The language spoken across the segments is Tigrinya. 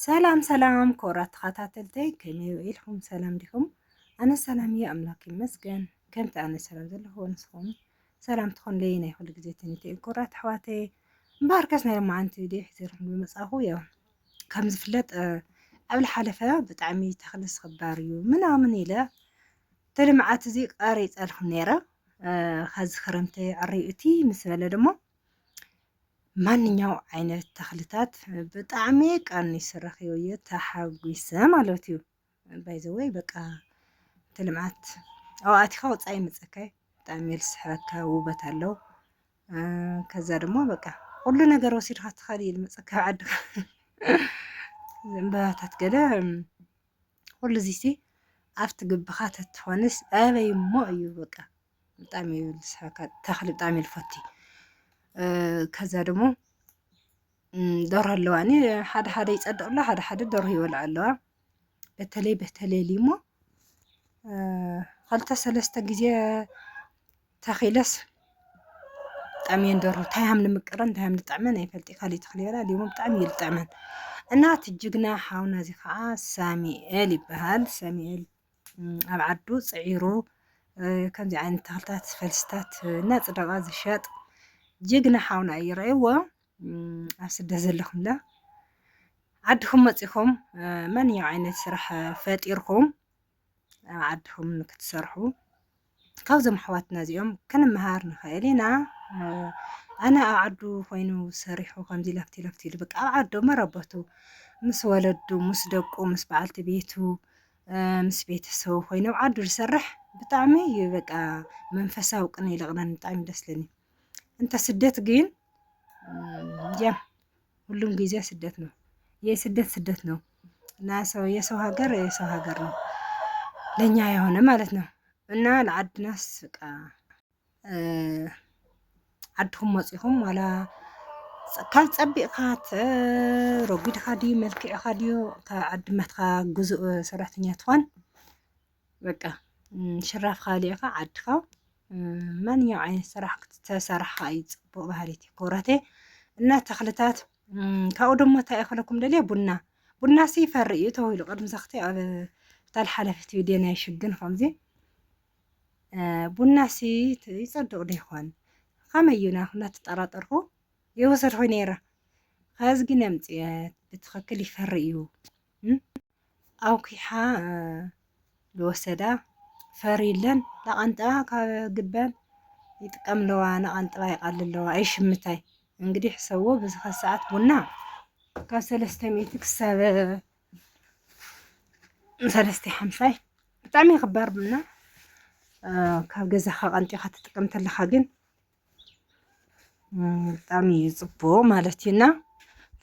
ሰላም ሰላም ክቡራት ተኸታተልተይ ከመይ ውዒልኩም ሰላም ዲኹም? ኣነ ሰላም እየ ኣምላክ ይመስገን። ከምቲ ኣነ ሰላም ዘለኹ ንስኹም ሰላም ትኾንለይ ናይ ኩሉ ግዜ ትንቢት እዩ ክቡራት ኣሕዋተይ። እምበኣር ከስ ናይ መዓንቲ ቪድዮ ሒዘልኩም ብምጻኹ ያው ከም ዝፍለጥ ኣብ ዝሓለፈ ብጣዕሚ ተኽሊ ዝኽበር እዩ ምናምን ኢለ እቲ ልምዓት እዚ ቀሪፀልኩም ነይረ። ከዚ ክረምቲ ዕርዩ እቲ ምስ በለ ድማ ማንኛው ዓይነት ተኽልታት ብጣዕሚ ቀኒሱ ረኺቡ እዩ ተሓጒሰ ማለት እዩ ባይዘወይ በቃ እቲ ልምዓት ኣብኡ ኣቲኻ ወፃኢ ይመፀካ እዩ ብጣዕሚ እዩ ዝስሕበካ ውበት ኣለዎ ከዛ ድማ በቃ ኩሉ ነገር ወሲድካ ትኸል እዩ ዝመፀካ ኣብ ዓድኻ ዕምበባታት ገለ ኩሉ እዚሲ ኣብቲ ግብኻ ተትኾንስ ኣበይ እሞ እዩ በቃ ብጣዕሚ እዩ ዝስሕበካ ተኽሊ ብጣዕሚ እዩ ዝፈቲ ከዛ ደሞ ዶሮ ኣለዋ እኔ ሓደ ሓደ ይጸድቕ ኣሎ ሓደ ሓደ ዶሮ ይበልዖ ኣለዋ በተለይ በተለይ እሞ ኸልተ ሰለስተ ግዜ ተኺለስ ብጣዕሚ እየን ዶሮ እንታይ ሃም ንምቅረን እንታይ ሃም ንጥዕመን ኣይፈልጥ ካልእ ተኽሊ ይበላ ሊሞ ብጣዕሚ እዩ ዝጥዕመን እና እቲ ጅግና ሓውና እዚ ከዓ ሳሚኤል ይበሃል ሳሚኤል ኣብ ዓዱ ፅዒሩ ከምዚ ዓይነት ተኽልታት ፈልስታት እናፅደቐ ዝሸጥ ጅግና ሓውና እዩ ረእይዎ ኣብ ስደት ዘለኹምላ ዓድኹም መፂኹም ማንኛው ዓይነት ስራሕ ፈጢርኩም ኣብ ዓድኹም ክትሰርሑ ካብዞም ኣሕዋትና እዚኦም ክንመሃር ንኽእል ኢና ኣነ ኣብ ዓዱ ኮይኑ ሰሪሑ ከምዚ ለፍቲ ለፍቲ ኢሉ በቃ ኣብ ዓዱ መረበቱ ምስ ወለዱ ምስ ደቁ ምስ በዓልቲ ቤቱ ምስ ቤተሰቡ ኮይኑ ኣብ ዓዱ ዝሰርሕ ብጣዕሚ እዩ በቃ መንፈሳዊ ቅነ ይልቕነን ብጣዕሚ ደስ ለኒ እንተ ስደት ግን እዚኦም ሁሉም ጊዜ ስደት ነው። የስደት ስደት ነው እና ሰው የሰው ሀገር የሰው ሀገር ነው ለእኛ የሆነ ማለት ነው እና ለዓድናስ በቃ ዓድኹም መፂኹም ዋላ ካብ ፀቢቕካ ረጒድኻ ድዩ መልክዕኻ ድዩ ካብ ዓድመትካ ግዙእ ሰራሕተኛ ትኾን በቃ ሽራፍ ካሊእኻ ዓድኻ ማንኛው ዓይነት ስራሕ ክትተሰርሓ እዩ ፅቡቅ ባህሪቲ ኮረቴ እና ተኽልታት ካብኡ ደሞ እንታይ እኽለኩም ደልየ ቡና ቡና ሲ ይፈሪ እዩ ተባሂሉ ቅድሚ ዘኽቲ ኣብ ታል ሓለፊት ቪድዮ ናይ ሽግን ከምዚ ቡና ሲ ይፀድቕ ዶ ይኾን ከመይ እዩ ናኹ እናተጠራጠርኩ ይወሰድኩ ነይረ ከዚ ግን ኣምፅኦት ብትኽክል ይፈሪ እዩ ኣውኪሓ ዝወሰዳ ፈሪለን ላቐንጥባ ካብ ግበን ይጥቀምለዋ ናቐንጥባ ይቓልለዋ ይሽምታይ እንግዲህ ሕሰቦ በዚ ከሰዓት ቡና ካብ ሰለስተ ሚእቲ ክሳብ ሰለስተ ሓምሳይ ብጣዕሚ ክባር ቡና ካብ ገዛኻ ቀንጢኻ ትጥቀም ተለኻ ግን ብጣዕሚ እዩ ፅቡቅ ማለት እዩ እና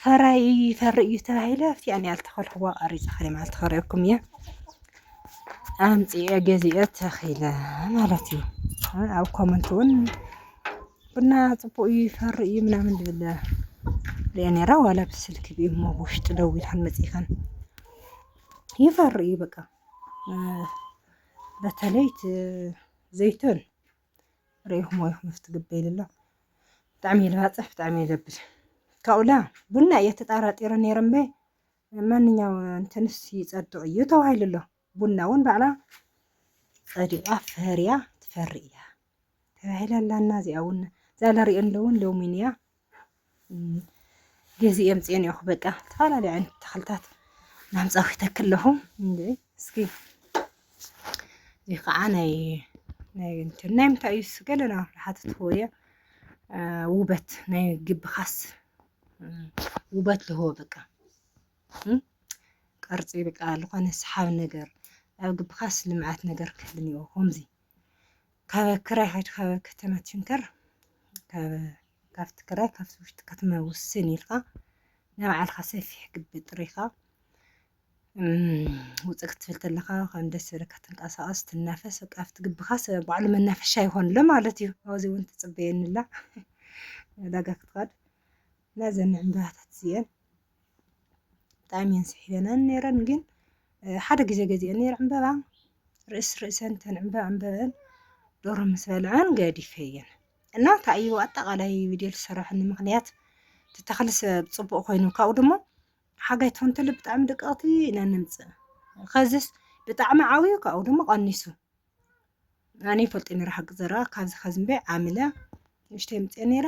ፈራይ ይፈሪ እዩ ተባሂለ ኣብቲ ኣነ ያልተኸልክዎ ቀሪፀ ከደ ማለት ተኸሪኦኩም እየ ኣምፅኤ ገዚኤ ተኺለ ማለት እዩ ኣብ ኮመንት እውን ቡና ፅቡቅ እዩ ይፈሪ እዩ ምናምን ዝብል ሪአ ነይረ ዋላ ብስልኪ ብእሞ ብውሽጢ ደዊልካን መፂእካን ይፈሪ እዩ በቃ በተለይ ዘይቶን ርኢኹሞ ኢኹም ኣብቲ ግበ ኢሉ ኣሎ ብጣዕሚ እየ ልባፅሕ ብጣዕሚ እየ ለብል ካብኡላ ቡና እየ ተጣራጢረ ነይረ እምበይ ማንኛው እንትንስ ይፀድቕ እዩ ተባሂሉ ኣሎ ቡና እውን ባዕላ ፀዲቓ ፈርያ ትፈሪ እያ ተባሂላ ኣላና እዚኣ እውን እዛ ለሪኦ ኣለውን ሎሚን እያ ገዚ የምፅኦ ኒኦኹ በቃ ዝተፈላለዩ ዓይነት ተኽልታት ናምፃኹ ይተክል ኣለኹ እስኪ እዚ ከዓ ናይ ናይ እንትን ናይ ምንታይ እዩ ገለና ሓትት እየ ውበት ናይ ግቢ ካስ ውበት ልህቦ በቃ ቅርፂ በቃ ዝኾነ ሰሓቢ ነገር ኣብ ግቢ ካስ ልምዓት ነገር ክህልኒ ከምዚ ካብ ክራይ ሓይድ ካብ ከተማ ትሽንከር ካብ ካብቲ ክራይ ካብቲ ውሽጢ ከተማ ውስን ኢልካ ናይ ባዕልካ ሰፊሕ ግቢ ጥሪኻ ውፅእ ክትብል ተለካ ከም ደስ ዝብለካ ትንቀሳቀስ ትናፈስ በቃ ኣብቲ ግብኻ ባዕሉ መናፈሻ ይኾንሎ ማለት እዩ ኣብዚ እውን ትፅበየኒ ኣላ ዕዳጋ ክትኸድ ናዘን ዕምባባታት እዚአን ብጣዕሚ እየን ስሒበናን ነይረን ግን ሓደ ግዜ ገዚአን ነይረ ዕምበባ ርእስ ርእሰን ተን ዕምበባ ዕምበበን ዶሮ ምስ በልዐን ገዲፈየን እና እንታይ እዩ ኣጠቃላይ ቪድዮ ዝሰራሕኒ ምክንያት እቲ ተክሊ ሰብ ፅቡቅ ኮይኑ ካብኡ ድማ ሓጋይ ትኾን ተሎ ብጣዕሚ ደቀቕቲ ኢና ነምፅእ ከዚስ ብጣዕሚ ዓብዩ ካብኡ ድማ ቀኒሱ ኣነ ይፈልጥ ነይረ ሓቂ ዘረባ ካብዚ ከዚ እምበይ ዓምለ ንእሽተይ ምፅአ ነይረ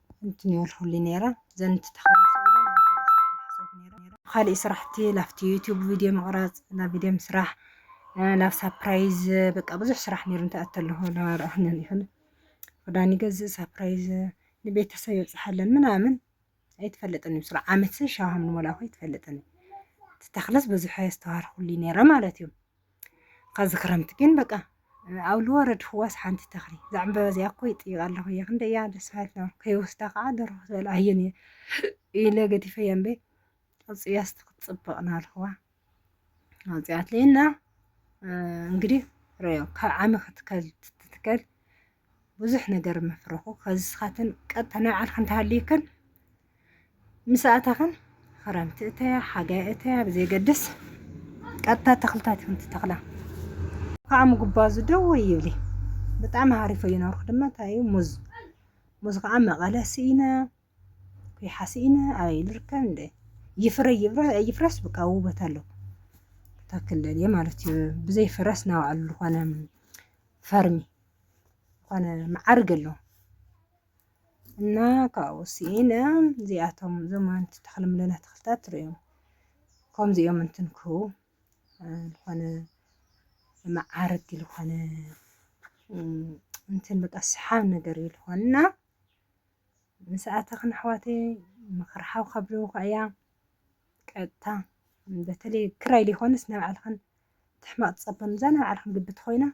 እንትንዮ ኣልሁሊ ነይረ ዘን ትተኸለ ኻሊእ ስራሕቲ ላፍቲ ዩቲዩብ ቪድዮ ምቕራፅ ናብ ቪድዮ ምስራሕ ናብ ሳፕራይዝ በቃ ብዙሕ ስራሕ ነይሩ እንታይ ኣተለኹ ላረኣህንን ይኹን ክዳን ይገዝእ ሳፕራይዝ ንቤተሰብ የብፅሓለን ምናምን ኣይትፈልጥን እዩ ስራ ዓመት ሻሃም ንሞላኹ ኣይትፈልጥን እዩ ትተኽለስ ብዙሕ ኣስተዋርኹሉ ነይረ ማለት እዩ ኸዚ ክረምቲ ግን በቃ ኣብ ልወረድ ህዋስ ሓንቲ ተኽሊ እዛ ዕምበባ እዚኣ እኮ ይጥይቃ ኣለኹ እየ ክንደ እያ ደስ በሃልቲ ነበርኩ ከይወስዳ ከዓ ደርኹ ዝበላ ኣየን እየ ኢለ ገዲፈያ እምበ ኣውፅያስቲ ክትፅብቕ ናልኹዋ ኣውፅያትለይና እንግዲህ ረዮ ካብ ዓሚ ክትከል ትትከል ብዙሕ ነገር መፍረኹ ከዝስኻትን ቀጥታ ናይ ባዕልክን ተሃልዩክን ምስ ኣታኽን ክረምቲ እተያ ሓጋይ እተያ ብዘይገድስ ቀጥታ ተኽልታት ይኹን ትተኽላ ከዓ ምጉባዙ ደው ይብሊ ብጣዕሚ ሃሪፎ እዩ ነርኩ ድማ እንታይ እዩ ሙዝ ሙዝ ከዓ መቐለ ስኢነ ኩሓ ስኢነ ኣበይ ልርከብ እንደ ይፍረ ይፍረስ ብቃ ውበት ኣለዎ ታክል ማለት እዩ ብዘይ ፍረስ ናባዕሉ ዝኾነ ፈርሚ ዝኾነ መዓርግ ኣሎ እና ካብኡ ስኢነ እዚኣቶም እዞም ኣንቲ ተኽልምለና ተኽልታት ትርእዮም ከምዚኦም እንትንክሁ ዝኾነ መዓርግ ዝኾነ እንትን በቃ ሰሓብ ነገር እዩ ዝኾንና ምስኣተኽን ኣሕዋተይ ምኽሪ ሓው ካብለውኳ እያ ቀጥታ በተለይ ክራይ ሊኾንስ ናይ ባዕልኽን ትሕማቅ ትጸበ ንዛ ናይ ባዕልኩም ግቢ ተኮይና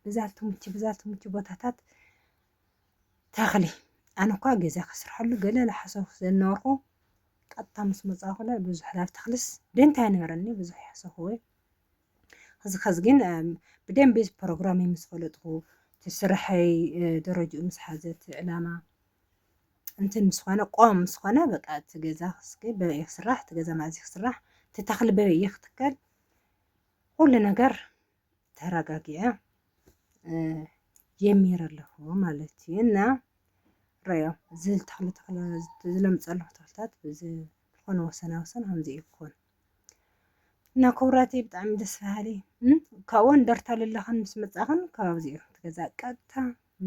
ብዛ ትምቹ ብዛ ትምቹ ቦታታት ተክሊ ኣነ እኳ ገዛ ከስርሐሉ ገለ ዝሓሰብኩ ስለዝነበርኩ ቀጥታ ምስ መጻኹለ ብዙሕ ናብ ተኽልስ ደንታ ኣይነበረኒ ብዙሕ ይሓሰኹወ እዚ ከዚ ግን ብደንቢ ፕሮግራም ምስ ፈለጥኩ ትስርሐይ ደረጅኡ ምስ ሓዘት ዕላማ እንትን ምስ ኾነ ቆም ምስ ኾነ በቃ እቲ ገዛ ክስገ በበይ ክስራሕ እቲ ገዛ ማእዚ ክስራሕ እቲ ተኽሊ በበይ ክትከል ሁሉ ነገር ተረጋጊዐ የሚር ኣለኹ ማለት እዩ እና ረዮ እዚ ተኽሊ ተኽለ ዝለምፅ ኣለኹ ተኽልታት ዝኾነ ወሰና ወሰን ከምዚ እዩ ክኾን እና ክብራቲ ብጣዕሚ ደስ በሃሊ ካብኡ እንደርታ ልለኽን ምስ መፃኽን ካብዚ እዩ ትገዛ ቀጥታ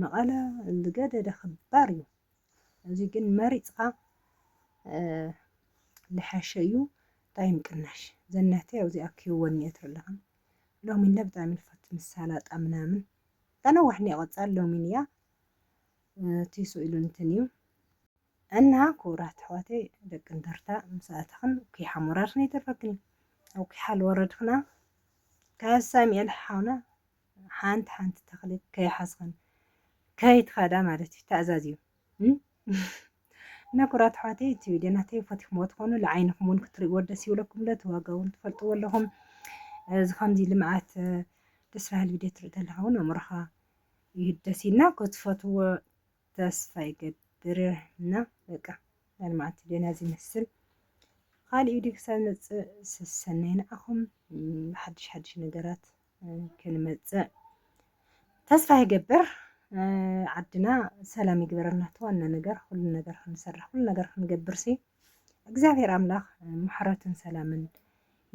መቐለ ዝገደደ ክባር እዩ እዚ ግን መሪፅኻ ልሐሸ እዩ ታይ ምቅናሽ ዘናተይ ኣብዙይ ኣኪቡ ወኒኤ ትርለኽን ሎሚን ለ ብጣዕሚ ንፈቱ ምስ ሳላጣ ምናምን ተነዋሕ ኒየ ቀፃል ሎሚን እያ ቲሱ ኢሉ እንትን እዩ እና ክቡራት ኣሕዋተይ ደቂ እንደርታ ምስ ኣተኽን ኩይ ሓሞራርክን ይተርፈክን ኣብ ኩይ ሓል ወረድክና ካብ ሳሚኤል ሓውና ሓንቲ ሓንቲ ተኽሊ ከይሓዝኽን ከይትኸዳ ማለት እዩ ተኣዛዝዩ ነቡራት ኣሕዋተይ እቲ ቪድዮ ናተይ ፈቲኹምዎ ትኾኑ ልዓይንኹም እውን ክትርእይዎ ደስ ይብለኩም ዶ ትዋጋ እውን ትፈልጥዎ ኣለኹም እዚ ከምዚ ልምዓት ደስ በሃሊ ቪድዮ ትርኢ ተለኻ እውን ኣእምሮኻ ይህደስ ኢልና ክትፈትዎ ተስፋ ይገብር እና በቃ ናይ ልምዓት ቪድዮና እዚ ይመስል ካልእ ቪድዮ ክሳብ ንመፅእ ሰሰናይ ንዓኹም ሓድሽ ሓድሽ ነገራት ክንመፅእ ተስፋ ይገብር። ዓድና ሰላም ይግበረና እቲ ዋና ነገር ኩሉ ነገር ክንሰርሕ ኩሉ ነገር ክንገብር ሲ እግዚኣብሔር ኣምላኽ ምሕረትን ሰላምን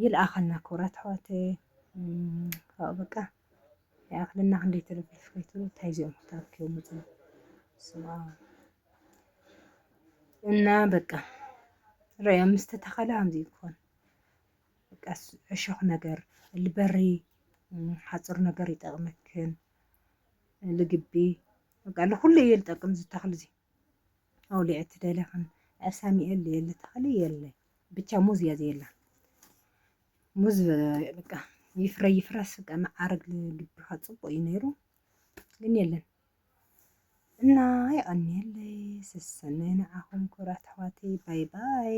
ይልኣኸልና ክብራት ኣሕዋት ካብኡ በቃ ይኣኽለና ክንደይ ተለፊፍ ከይትሉ እንታይ እዚኦም ክታርክዮም ውፅ እና በቃ ርኦም ምስተተኸለ ከምዚ ክኾን በቃስ ዕሾኽ ነገር ልበሪ ሓፁር ነገር ይጠቅመክን ልግቢ በቃ ልኩሉ እየ ልጠቅም እዚ ተኽሊ እዚ ኣውሊዐ ትደለኽን ሳሚኤል የለ ተኽሊ የለ ብቻ ሙዝ እያ ዘየላ ሙዝ በቃ ይፍረ ይፍረስ በቃ መዓርግ ልግቢኻ ፅቡቅ እዩ ነይሩ ግን የለን እና የቀኒየለይ ስሰናይ ንዓኹም ክብራት ኣሕዋተይ ባይ ባይ